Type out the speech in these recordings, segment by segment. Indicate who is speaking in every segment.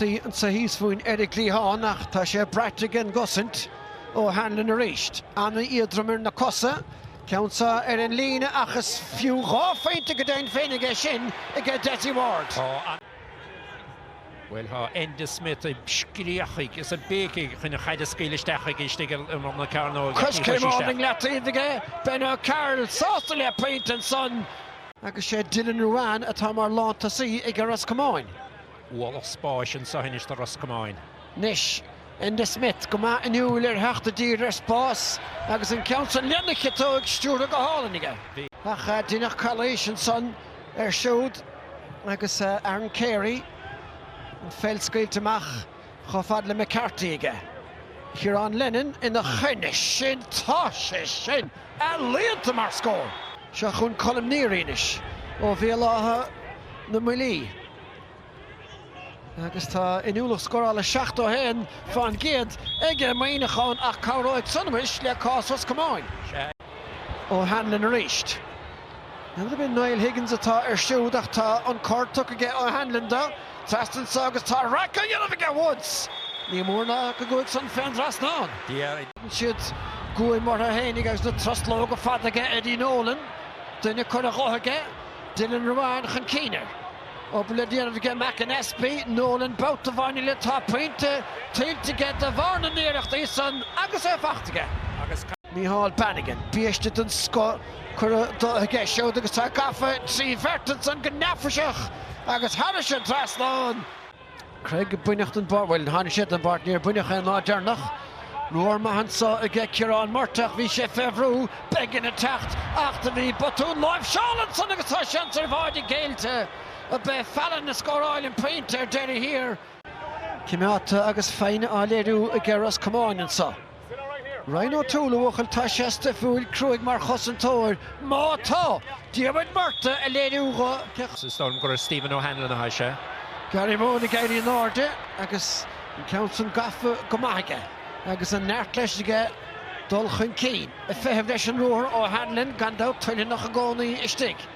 Speaker 1: Anso thíos fúinn ar an gcliathán ach tá sé braite ag an gcosaint. O'Hanlon arís. Ana-éadrom ar na cosa. Ceann so ar an líne ach is fiú dhá phointe go deimhin féin aige sin aige Dessie Ward. Bhuel tá Enda Smith ag scréachaigh is ag béicigh chun an chaid a scaoileadh isteach chuige istigh ar imeall na cearnóige ach ní chuir sé isteach. Coiscéim amháin i leataobh aige, Ben O'Carroll sásta le pointe ansan. Agus sé Dylan Ruane atá mar lántosaí ag Ros Comáin. Ualach spáis anso anois do Ros Comáin. Anois, Enda Smith go maith inniúil ar theacht i dtír ar spás agus an ceann san lena chiotóig stiúrtha go hálainn aige. Ach deineadh calaois ansan air siúd agus Aaron Carey an pheil scaoilte amach chomh fada le McCarthy aige. Ciarán Lennon ina choinne sin! Tá sé sin ealaíonta mar scór! Seo chughainn Colm Neary anois ó Bhéal Átha na mBuillí. agus tá inniúlacht scórála 71% aige Muineachán ach cabhróidh san muis le cás Ros Comáin. O'Hanlon arís. Ab é Niall Higgins atá air siúd ach tá an cor tugtha aige O'Hanlon dó trasna anso agus tá raic á dhéanamh aige Woods! Ní mór ná go gcuaigh san fén dtrasnán. Déanann siad guaim orthu fhéinig agus na truslóga fada aige Eddie Nolan. Duine curtha dhó aige. Dylan Ruane chun cinn air. Obair le déanamh aige McAnespie, Nolan babhta amháin eile tá pointe tuillte aige de bharr na n-iarrachtaí san agus é faighte aige. Micheál Bannigan, biaiste den scoth curtha dó aige siúd agus tá gafa trí bheirt ansan go neafaiseach agus thairis an dtrasnán. Cregg baineadh den bpáirc, bhuel, tháinig sé den bpáirc, níor baineadh é an lá deireanach. Ruathar maith anso aige Ciarán Murtagh, bhí sé fé bhrú, Beggan ag teacht, ach do bhí botún láimhseála ansan agus tá seans ar bháide caillte. Ab é Fallon a scóráil an pointe ar deireadh thiar. Cimeádta agus foighne á léiriú aige Ros Comáin anso. Ryan O'Toole, a bhuachaill, tá sé stuifiúil, cruaidh mar chosantóir, má tá! Diarmuid Murtagh á léiriú dhó. Is dóigh liom gur Stephen O'Hanlon a sháigh sé. Gary Mohan ag éirí in airde agus an ceann san gafa go maith aige agus an neart leis aige dul chun cinn. Ag feitheamh leis an ruathar O'Hanlon, gan dabht, toilteanach i gcónaí istigh.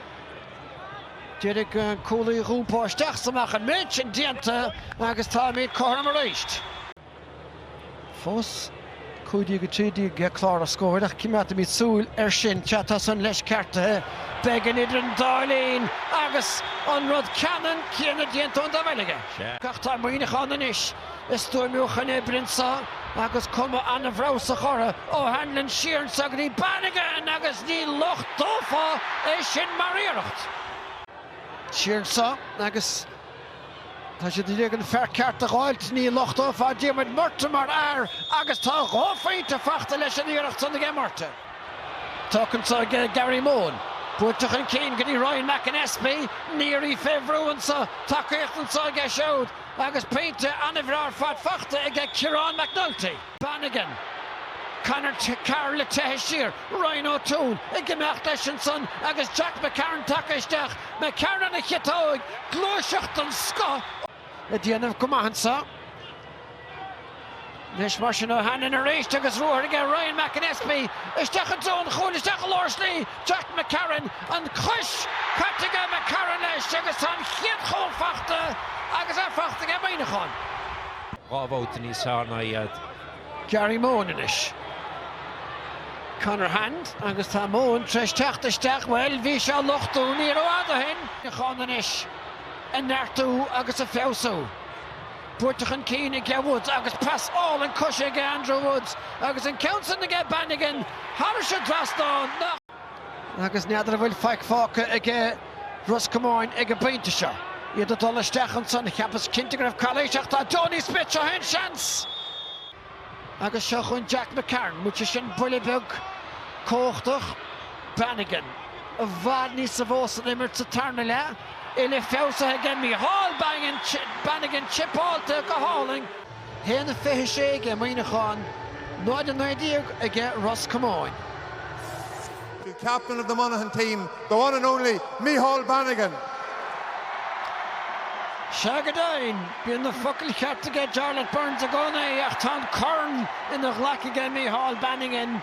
Speaker 1: D'iarraidh an cúlaí a dh'iompó isteach 's amach an méid sin déanta agus táimíd cothrom arís. fós. 15 13 ar chlár an scóir ach coimeádfaimid súil air sin ach tá san leis ceartaithe Beggan idir an dá linn agus an rud ceannann céanna déanta ón dá bhaill aige. Ach tá Muineachán anois is stuaimiúchan oibre anso agus cuma ana-bhreabhsach orthu. O'Hanlon siar anso go dtí Bannigan agus ní lochtófá é sin mar iarracht. Siar anso agus Tá siad i ndiaidh an fear ceart a dh'fháilt. Ní lochtófá Diarmuid Murtagh mar fhear agus tá dhá phointe fachta leis an iarracht san aige Murtagh. Tógtha anseo aige Gary Mohan. Buailte chun cinn go dtí Ryan McAnespie. Neary fé bhrú anseo. Tacaíocht anseo aige siúd agus pointe an-bhreá ar fad fachta aige Ciarán McNulty. Bannigan, Conor Carroll ag teitheadh siar, Ryan O'Toole ag imeacht leis ansan agus Jack McCarron tagtha isteach, McCarron ar a chiotóig gluaiseacht den scoth. Ag déanamh go maith anseo anois mar sin O'Hanlon arís agus ruathar aige, Ryan McAnespie isteach i dtreo an chúil, isteach i lár slí Jack McCarron, an chois caite aige, McCarron leis agus tá an chéad chúl fachta agus é fachta aige Muineachán. Dhá bhabhta níos fearr ná iad. Gary Mohan anois. Conor Hand agus tá Mohan tar éis teacht isteach, bhuel, bhí sé á lochtú ní rófhada ó shin! Muineachán anois ag neartú agus ag feabhsú. Buailte chun cinn aige Woods agus pas álainn coise aige Andrew Woods agus an ceann san aige Bannigan thar an dtrasnán. Agus n'fheadar an bhfuil faic fágtha aige Ros Comáin ag an bpointe seo. Iad ag dul isteach ansan, cheapas cinnte go raibh calaois ach tá Donie Smith, seo fhéin seans! Agus seo chugainn Jack McCarron, muise sin buille beag cumhachtach. Bannigan, i bhfad níosa mhó san imirt sa tarna leath, uile-fheabhsaithe aige Micheál Bannigan, chipeáilte go hálainn. 1 a 26 aige Muineachán, 0 a 19 aige Ros Comáin. To captain of the Monaghan team, the one and only Micheál Bannigan. Sea go deimhin, bíonn na focail chearta aige Jarlath Burns i gcónaí ach tá an corn ina ghlac aige Micheál Bannigan.